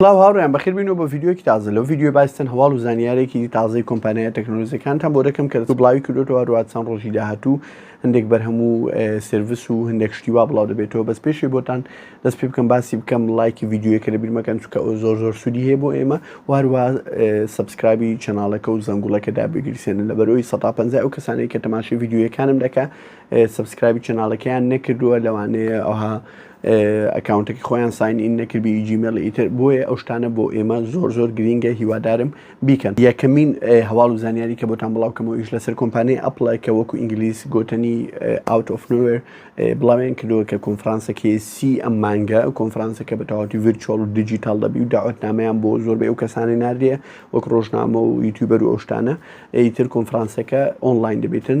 سڵاو هاوڕیان بەخیر بینەوە بە ڤیددیوکی تازە لەو ڤیددیو باستن هەواڵ و زانیارێکی دی تازەی کۆمپانیای تەکنۆلۆزیەکانتان بۆ دەکەم کە بڵاوی کردوەوە هەروات چەند ڕۆژی داهاتوو هەندێک بەرهەم و سرویس و هەندێک شتیوا بڵاو دەبێتەوە بەس پێشی بۆتان دەست پێ بکەم باسی بکەم لایکی ڤیددیوەکە لە بیرمەکەن چکە ئەو زۆر زۆر سوودی هەیە بۆ ئێمە واروا سبسکرابی چناڵەکە و زەنگوڵەکە دابگریسێنن لە بەرەوەی 150 ئەو کەسانی کە تەماشی ڤیددیوەکانم دەکە سبسکرابی چناڵەکەیان نەکردووە لەوانەیە ئەوها ئەکاونتەکەی خۆیان ساین ئین نەکردی جیمێڵ ئیتر بۆیە ئەو شتانە بۆ ئێمە زۆر زۆر گرینگە هیوادارم بیکەن یەکەمین هەواڵ و زانیاری کە بۆتان بڵاوکەمەوە ئیش لەسەر کۆمپانیای ئەپڵە کە وەکو ئینگلیس گۆتەنی ئاوت ئۆفنوێر بڵاوێن کردووە کە کۆنفرانسەکەی سی ئەم مانگە کۆنفرانسەکە بە تەواتی ڤرچۆڵ و دیجیتال دەبی و داوەتنامەیان بۆ زۆر بێ و کەسانی ناردێ وەک ڕۆژنامە و یوتیوبەر و ئەوشتانە ئیتر کۆنفرانسەکە ئۆنلاین دەبێتن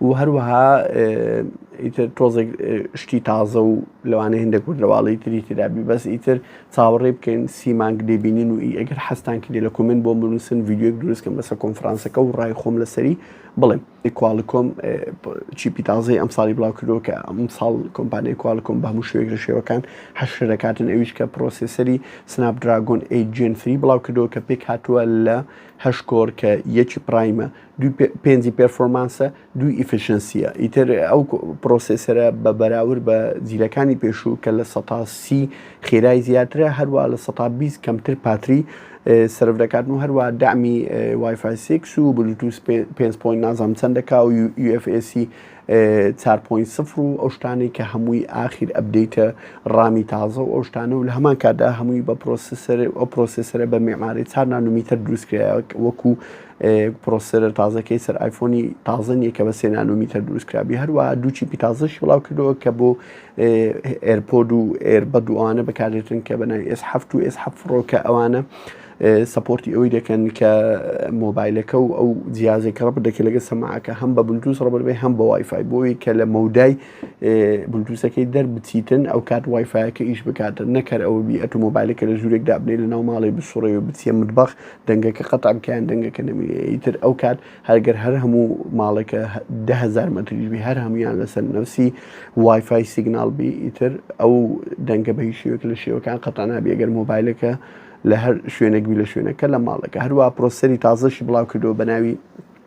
و هەروەها ئیتر تۆزێک شتی تازە و لەوانەیە هێندە کوردەواڵی تری ترابی بەس ئیتر چاوەڕێ بکەین سی مانگ دەبینین و ئی ئەگەر حەستان کردی لە کۆمنت بۆ بنووسن ڤیدیۆک دروستکەم بەسە کۆنفرانسەکە و ڕای خۆم لەسەری بڵێم کوالکۆم چیپی تازەی ئەم ساڵی بڵاو کردەوە کە ئەم ساڵ کۆمپانیای کوالکۆم بە هەموو شوێک لە شێوەکان حەشر دەکاتن ئەویش کە پرۆسیسەری سناپ دراگۆن ئەی جێن فری بڵاو کردەوە کە پێک هاتووە لە هەشکۆر کە یەکی پرایمە پێنجی پێرفۆمانسە دوو ئیفشنسیە ئیتر ئەو پرۆسسەرە بە بەراورد بە جیلەکانی پێشوو کە لە سەتاسی خێرای زیاترە هەروە لە سە بیست کەمتر پاتری سرف دەکات و هەروە دامی وایفسیکس و بلوتوس 5 نازام چەند دەکا و UFSC 4.0 و ئەو شتانی کە هەمووی ئاخیر ئەبدەیتە ڕامی تازە و ئەو شتانە و لە هەمان کاتدا هەمووی بە پرۆسسەر ئەو پرۆسسەرە بە میماری چار نانومیتر دروستکرایە وەکو پرۆسسێرە تازەکەی سەر ئایفۆنی تازە نییە کە بە سێ نانۆمیتەر دروستکرابی هەروەها دوو چیپی تازەشی بڵاو کردەوە کە بۆ ئێرپۆد و ئێر بە دووانە بەکارێتن کە بەناوی ئێس هەفت و ئێس حەف فڕۆکە ئەوانە سپۆرتی ئەوەی دەکەن کە مۆبایلەکە و ئەو جیازێکە ڕە بدەکە لەگە سەماعەکە هەم بە بلوتوس ڕبەربێ هەم بە وایفای بۆی کە لە مەودای بلوتوسەکەی دەربچیتن ئەو کات وایفایەکە ئیش بکاتن نەکەر ئەوە بی ئەتو مۆبایلەکە لە ژوورێک دابنێ لە ناو ماڵی بسوڕێ و بچیە مدبخ دەنگەکە قەتع بکەیان دەنگەکە نەمینێ ئیتر ئەو کات هەرگەر هەر هەموو ماڵێکە دههزار مەتریشبی هەر هەمویان لەسەر نەوسی وایفای سیگنال بی ئیتر ئەو دەنگە بە هیچ شێوەیەک لە شێوەکان قەتع نابێ گەر مۆبایلەکە لە هەر شوێنێک بی لە شوێنەکە لە ماڵەکە هەروە پرۆسەری تازەشی بڵاو کردەوە بە ناوی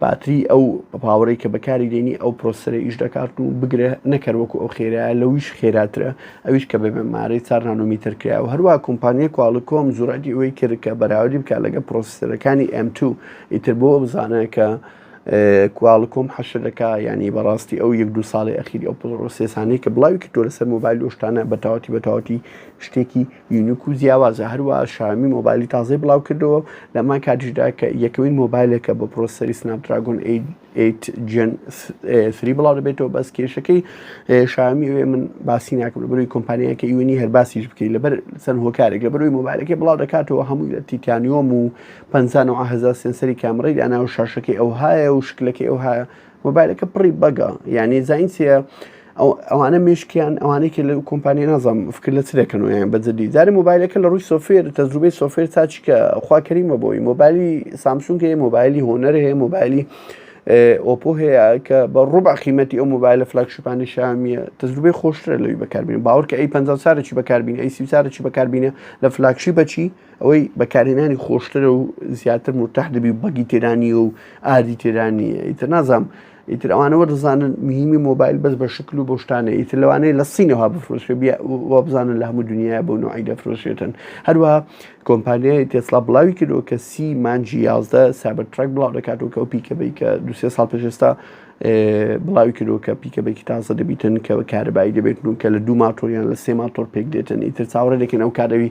باتری ئەو پاوەرەی کە بەکاری دێنی ئەو پرۆسەرە ئیش دەکات و بگرە نەکەر وەکو ئەو خێرایە لەویش خێراترە ئەویش کە بە بەمارەی چار نانۆمیتر کرا و هەروە کۆمپانیای کواڵکۆم زورەتی ئەوەی کرد کە بەراوردی بکات لەگە پرۆسەرەکانی ئێم تو ئیتر بۆ بزانە کە کواڵکۆم حەشر دەکا ینی بەڕاستی ئەو یەک دو ساڵی ئەخیری ئەو پڵڕۆسێسانەی کە بڵاوی کردوە لەسەر مۆبایل لۆشتانە بەتاوەتی بەتاوەتی شتێکی یونیک و جیاوازە هەروە شامی مۆبایلی تازەی بڵاو کردەوە لەمان کاتیشدا کە یەکەوەی مۆبایلەکە بە پرۆسەری سناپدراگۆن 8 جن 3 بڵاو دەبێتەوە بەس کێشەکەی شامی وێ من باسی ناکەم لەبەروی کۆمپانیەکە یونی هەر باسیش بکەیت لەبەر سەر هۆکارێک لە بەروی مۆبایلەکەی بڵاو دەکاتەوە هەمووی لە تیتانیۆم و 500 سنسەری کامڕی داناو شاشەکەی ئەوهایە و شکلەکەی ئەوها مۆبایلەکە پڕی بەگە یعنی زین چیە ئەوانە مشکیان ئەوانێکی لە کۆمپانی نازم فکر لە چ دەکەن و یان بەجددی دارە مۆبایلەکە لە ڕووی سۆفێر تەجروبەی سۆفێر تاچکە خواکەریمە بۆی مۆبایلی سامسونگە هەیە مۆبایلی هۆنەر هەیە مۆبایلی ئۆپۆ هەیە کە بە ڕوبع قیمەتی ئەو مۆبایلە فلاکشپانی شامیە تەجروبەی خۆشترە لەوی بەکاربین باوەڕکە ئەی پ سارێکی بەکاربین ئەی سی سارێکی بەکاربینە لە فلاکشی بەچی ئەوەی بەکارهێنانی خۆشترە و زیاتر مرتاح دەبی و بەگی تێدا نییە و ئاردی تێدا نییە ئیتر نازانم ئیتر ئەوانەوە دەزانن مهمی مۆبایل بەس بە شکل و بۆشتانە ئیتر لەوانەیە لە سینەوە بفرۆشێ بیا و بزانن لە هەموو دنیاە بۆ نوعی دەفرۆشێتن هەروە کۆمپانیای تێسڵا بڵاوی کردەوە کە سی مانجی یازدە سابەر تراک بڵاو دەکاتەوە کە ئەو پیکەبەی کە دوسێ ساڵ پێشێستا بڵاوی کردەوە کە پیکەبێکی تازە دەبیتن کە کارەبایی دەبێت و کە لە دوو ماتۆریان لە سێ ماتۆر پێک دێتن ئیتر چاوەڕێ دەکەن ئەو کارەوی